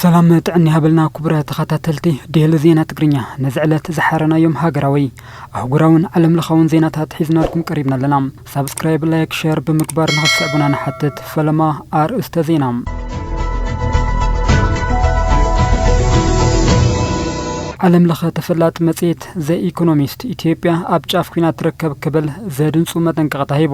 ሰላም ጥዕና ይሃበልና ክቡረ ተኸታተልቲ ዴሊ ዜና ትግርኛ ነዚ ዕለት ዝሓረናዮም ሃገራዊ ኣህጉራውን ዓለም ለኻውን ዜናታት ሒዝናልኩም ቀሪብና ኣለና ሳብስክራይብ ላይክ ሸር ብምግባር ንክትስዕቡና ንሓትት ፈለማ ኣርእስተ ዜና ዓለም ለኸ ተፈላጢ መጽሔት ዘ ኢኮኖሚስት ኢትዮጵያ ኣብ ጫፍ ኩና ትርከብ ክብል ዘድንጹ መጠንቀቕታ ሂቡ።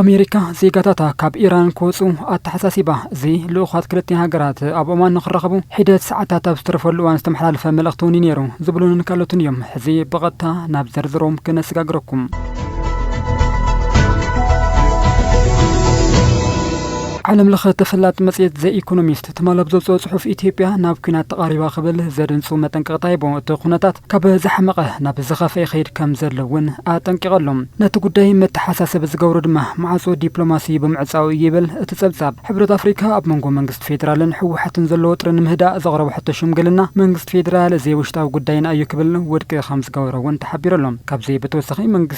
ኣሜሪካ ዜጋታታ ካብ ኢራን ክወጹ ኣተሓሳሲባ። እዚ ልኡኻት ክልቲኣን ሃገራት ኣብ ኦማን ንኽራኸቡ ሒደት ሰዓታት ኣብ ዝተረፈሉ እዋን ዝተመሓላለፈ መልእኽቲ'ውን እዩ ነይሩ ዝብሉንን ካልኦትን እዮም። ሕዚ ብቐጥታ ናብ ዝርዝሮም ክነሰጋግረኩም። ዓለም ለኸ ተፈላጢ መጽሔት ዘ ኢኮኖሚስት ትማል ኣብ ዘውጽኦ ጽሑፍ ኢትዮጵያ ናብ ኲናት ተቓሪባ ክብል ዘድንጹ መጠንቀቕታ ሂቡ። እቲ ኩነታት ካብ ዝሓመቐ ናብ ዝኸፍኣ ይኸይድ ከም ዘሎ እውን ኣጠንቂቐ ኣሎ። ነቲ ጉዳይ መተሓሳሰቢ ዝገብሮ ድማ ማዕጾ ዲፕሎማሲ ብምዕጻዉ እዩ ይብል እቲ ጸብጻብ። ሕብረት ኣፍሪካ ኣብ መንጎ መንግስቲ ፌደራልን ህወሓትን ዘሎ ወጥሪ ንምህዳእ ዘቕረቦ ሕቶ ሽምግልና መንግስቲ ፌደራል ዘይውሽጣዊ ጉዳይና እዩ ክብል ውድቂ ከም ዝገበሮ እውን ተሓቢሩ ኣሎ። ካብዚ ብተወሳኺ መንግስቲ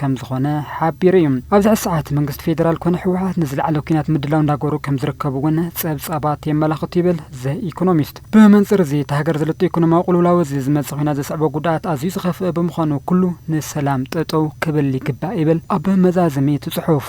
ከምዝኾነ ሓቢሩ እዩ። ኣብዚ ሕዚ ሰዓት መንግስቲ ፌዴራል ኮነ ህወሓት ንዝለዓለ ኲናት ምድላው እንዳገበሩ ከምዝርከቡ እውን ፀብፃባት የመላኽቱ ይብል ዘ ኢኮኖሚስት። ብመንፅር እዚ እታ ሃገር ዘለቶ ኢኮኖሚያዊ ቅልውላው እዚ ዝመፅእ ኲናት ዘስዕቦ ጉድኣት ኣዝዩ ዝኸፍእ ብምዃኑ ኩሉ ንሰላም ጠጠው ክብል ይግባእ ይብል ኣብ መዛዘሚ እቲ ፅሑፍ።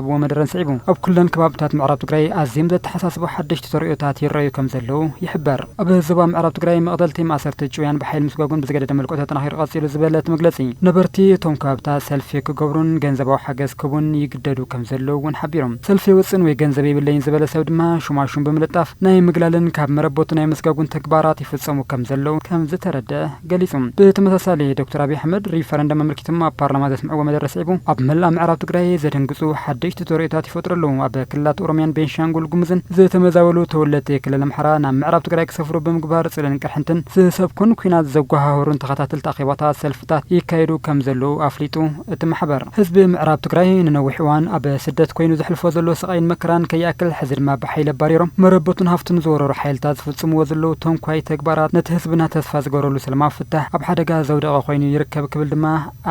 ዝረኸብዎ መደረን ስዒቡ ኣብ ኩለን ከባብታት ምዕራብ ትግራይ ኣዝዮም ዘተሓሳስቡ ሓደሽቲ ተርእዮታት ይረኣዩ ከምዘለዉ ይሕበር። ኣብ ዞባ ምዕራብ ትግራይ መቕተልቲ፣ ማእሰርቲ፣ ጭውያን ብሓይሊ ምስጓጕን ብዝገደደ መልክዑ ተጠናኺሩ ቀፂሉ ዝበለ እቲ መግለፂ፣ ነበርቲ እቶም ከባብታት ሰልፊ ክገብሩን ገንዘባዊ ሓገዝ ክህቡን ይግደዱ ከምዘለዉ እውን ሓቢሩ። ሰልፊ ውፅእን ወይ ገንዘብ የብለይን ዝበለ ሰብ ድማ ሹማሹም ብምልጣፍ ናይ ምግላልን ካብ መረበቱ ናይ ምስጋጕን ተግባራት ይፍፀሙ ከምዘለዉ ከምዝተረድኣ ገሊጹ። ብተመሳሳሊ ዶክተር ኣብይ ኣሕመድ ሪፈረንደም ኣመልኪቶም ኣብ ፓርላማ ዘስምዕዎ መደረ ስዒቡ ኣብ መላእ ምዕራብ ትግራይ ዘደንግጹ ሓደሽቲ ተርእዮታት ይፈጥሩ ኣለዉ፣ ኣብ ክልላት ኦሮምያን ቤንሻንጉል ጉሙዝን ዝተመዛበሉ ተወለድቲ ክልል ኣምሓራ ናብ ምዕራብ ትግራይ ክሰፍሩ ብምግባር ጽልእን ቅርሕንትን ዝሰብኩን ኲናት ዘጓሃህሩን ተኸታተልቲ ኣኼባታት ሰልፍታት ይካየዱ ከምዘለዉ ኣፍሊጡ እቲ ማሕበር። ህዝቢ ምዕራብ ትግራይ ንነዊሕ እዋን ኣብ ስደት ኮይኑ ዘሕልፎ ዘሎ ስቓይን መከራን ከይኣክል ሕዚ ድማ ብሓይሊ ኣባሪሮም መረበቱን ሃፍቱን ዝወረሩ ሓይልታት ዝፍፅምዎ ዘለዉ ተንኳይ ተግባራት ነቲ ህዝብና ተስፋ ዝገበረሉ ሰላማዊ ፍታሕ ኣብ ሓደጋ ዘውደቐ ኮይኑ ይርከብ ክብል ድማ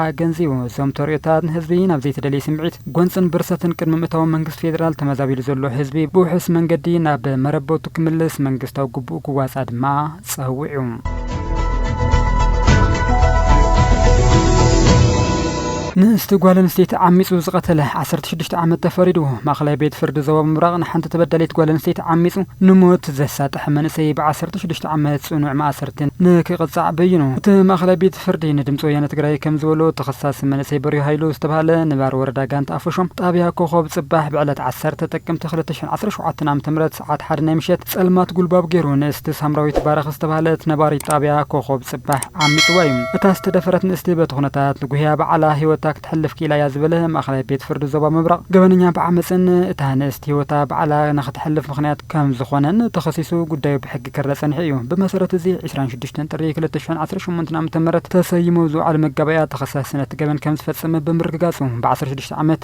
ኣገንዚቡ። እዞም ተርእዮታት ንህዝቢ ናብ ዘይተደልየ ስምዒት፣ ጎንፅን ብርሰትን ቅድሚ ምእታዎም መንግስቲ ፌዴራል ተመዛቢሉ ዘሎ ህዝቢ ብውሑስ መንገዲ ናብ መረበቱ ክምልስ መንግስታዊ ግቡኡ ክዋፃእ ድማ ጸዊዑ። ንእስቲ ጓል ኣንስተይቲ ዓሚጹ ዝቐተለ ዓሰርተ ሽዱሽተ ዓመት ተፈሪድዎ። ማእኸላይ ቤት ፍርዲ ዞባ ምብራቕ ንሓንቲ ተበዳሊት ጓል ኣንስተይቲ ዓሚጹ ንሞት ዘሳጠሐ መንእሰይ ብ ዓሰርተ ሽዱሽተ ዓመት ጽኑዕ ማእሰርቲ ንክቕጻዕ በይኑ። እቲ ማእኸላይ ቤት ፍርዲ ንድምጺ ወያነ ትግራይ ከምዝበሎ ተኸሳሲ መንእሰይ በሪሁ ሃይሉ ዝተብሃለ ንባር ወረዳ ጋንታ ኣፎሾም ጣብያ ኮኾብ ጽባሕ ብዕለት ዓሰርተ ጥቅምቲ ክልተ ሽሕን ዓሰርተ ሸውዓተን ዓ.ም ሰዓት ሓደ ናይ ምሸት ጸልማት ጉልባብ ገይሩ ንእስቲ ሳምራዊት ባርኽ ዝተባህለት ነባሪት ጣብያ ኮኾብ ጽባሕ ዓሚጽዋ እዩ። እታ ዝተደፈረት ንእስቲ በቲ ኩነታት ንጉህያ ባዕላ ህይወታ ክትሕልፍ ክኢላ እያ ዝበለ ማእኸላይ ቤት ፍርዲ ዞባ ምብራቕ ገበነኛ ብዓመጽን እታ ንእስቲ ህይወታ ባዕላ ንክትሕልፍ ምኽንያት ከምዝኾነን ተኸሲሱ ጉዳዩ ብሕጊ ክረእ ጸኒሑ እዩ። ብመሰረት እዚ ዕስራን ሽዱሽተን ጥሪ ክልተ ሽሕን ዓሰርተ ሸሞንተን ዓመተ ምህረት ተሰይሙ ኣብ ዝወዓለ መጋባእያ ተኸሳሲ ነቲ ገበን ከምዝፈጸመ ብምርግጋጹ ብዓሰርተ ሽዱሽተ ዓመት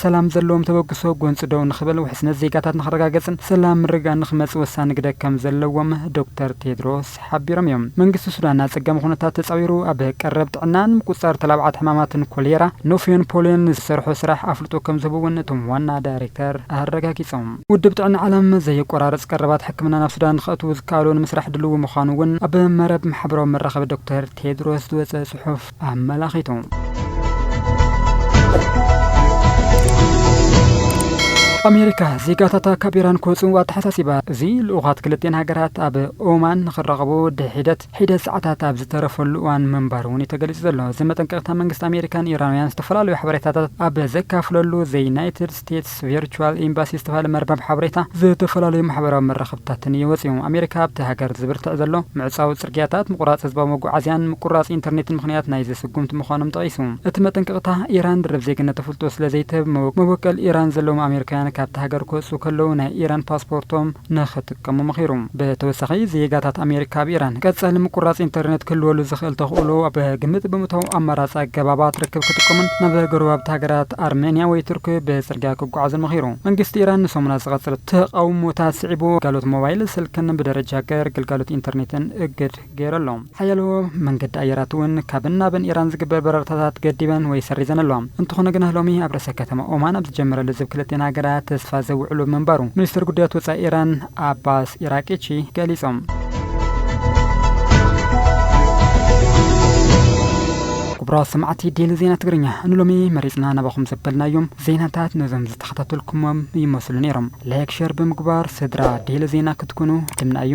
ሰላም ዘለዎም ተበግሶ ጎንፂ ደው ንኽበል ውሕስነት ዜጋታት ንኽረጋገፅን ሰላም ምርግጋእን ንኽመፅእ ወሳኒ ግደ ከምዘለዎም ዶክተር ቴድሮስ ሓቢሮም እዮም። መንግስቲ ሱዳን ኣፀጋሚ ኩነታት ተፃዊሩ ኣብ ቀረብ ጥዕና ንምቁፅፃር ተላባዕቲ ሕማማትን ኮሌራ፣ ኖፍዮን ፖልዮን ንዝሰርሖ ስራሕ ኣፍልጦ ከምዝህቡ እውን እቶም ዋና ዳይሬክተር ኣረጋጊፆም። ውድብ ጥዕና ዓለም ዘየቆራርፅ ቀረባት ሕክምና ናብ ሱዳን ንኽእትው ዝከኣሎ ንምስራሕ ድልዊ ምዃኑ እውን ኣብ መረብ ማሕበራዊ መራኸቢ ዶክተር ቴድሮስ ዝወፀ ፅሑፍ ኣመላኺቱ። ኣሜሪካ ዜጋታታ ካብ ኢራን ክወፁ ኣተሓሳሲባ። እዚ ልኡኻት ክልቲኤን ሃገራት ኣብ ኦማን ንክራኸቡ ድሒደት ሒደት ሰዓታት ኣብ ዝተረፈሉ እዋን ምንባሩ እውን እዩ ተገሊፁ ዘሎ። እዚ መጠንቀቕታ መንግስቲ ኣሜሪካ ንኢራናውያን ዝተፈላለዩ ሓበሬታታት ኣብ ዘካፍለሉ ዘዩናይትድ ስቴትስ ስቴትስ ቪርቹዋል ኤምባሲ ዝተባህለ መርበብ ሓበሬታ ዝተፈላለዩ ማሕበራዊ መራኸብታትን እዩ ወጺኡ። ኣሜሪካ ኣብቲ ሃገር ዝብርትዕ ዘሎ ምዕጻው ጽርግያታት፣ ምቑራጽ ህዝባዊ መጓዓዝያን ምቁርራጽ ኢንተርኔትን ምኽንያት ናይዚ ስጉምቲ ምዃኖም ጠቒሱ። እቲ መጠንቀቕታ፣ ኢራን ደርብ ዜግነት ኣፍልጦ ስለ ዘይትህብ፣ መበቆል ኢራን ዘለዎም ኣሜሪካውያን ካብታ ሃገር ክወጽኡ ከለዉ ናይ ኢራን ፓስፖርቶም ንኽጥቀሙ ከምኡ መኺሩ። ብተወሳኺ፣ ዜጋታት ኣሜሪካ ኣብ ኢራን ቀጻሊ ምቁራጽ ኢንተርነት ክህልወሉ ዝኽእል ተኽእሎ ኣብ ግምት ብምእታው ኣማራጺ ኣገባባት ርክብ ክጥቀሙን ናብ ጎረባብቲ ሃገራት ኣርመንያ ወይ ቱርኪ ብጽርግያ ክጓዓዙን መኺሩ። መንግስቲ ኢራን ንሰሙናት ዝቐጸለ ተቓውሞታት ስዒቡ፣ ግልጋሎት ሞባይል ስልክን ብደረጃ ሃገር ግልጋሎት ኢንተርኔትን እግድ። ገይሩ ኣሎ። ሓያሎ መንገዲ ኣየራት እውን ካብን ናብን ኢራን ዝግበር በረርታታት ገዲበን ወይ ሰሪዘን ኣለዋ። እንተኾነ ግና ሎሚ ኣብ ርእሰ ከተማ ኦማን ኣብ ዝጀመረ ልዝብ ክልቲኤን ሃገራት ተስፋ ዘውዕሉ ምንባሩ ሚኒስተር ጉዳያት ወጻኢ ኢራን ዓባስ ኢራቂቺ ገሊጾም። ክቡራት ሰማዕቲ ዴሊ ዜና ትግርኛ ንሎሚ መሪጽና ናባኹም ዘበልናዮም ዜናታት ነዞም ዝተኸታተልኩሞም ይመስሉ ነይሮም። ላይክ ሸር ብምግባር ስድራ ዴሊ ዜና ክትኩኑ ድምና እዩ።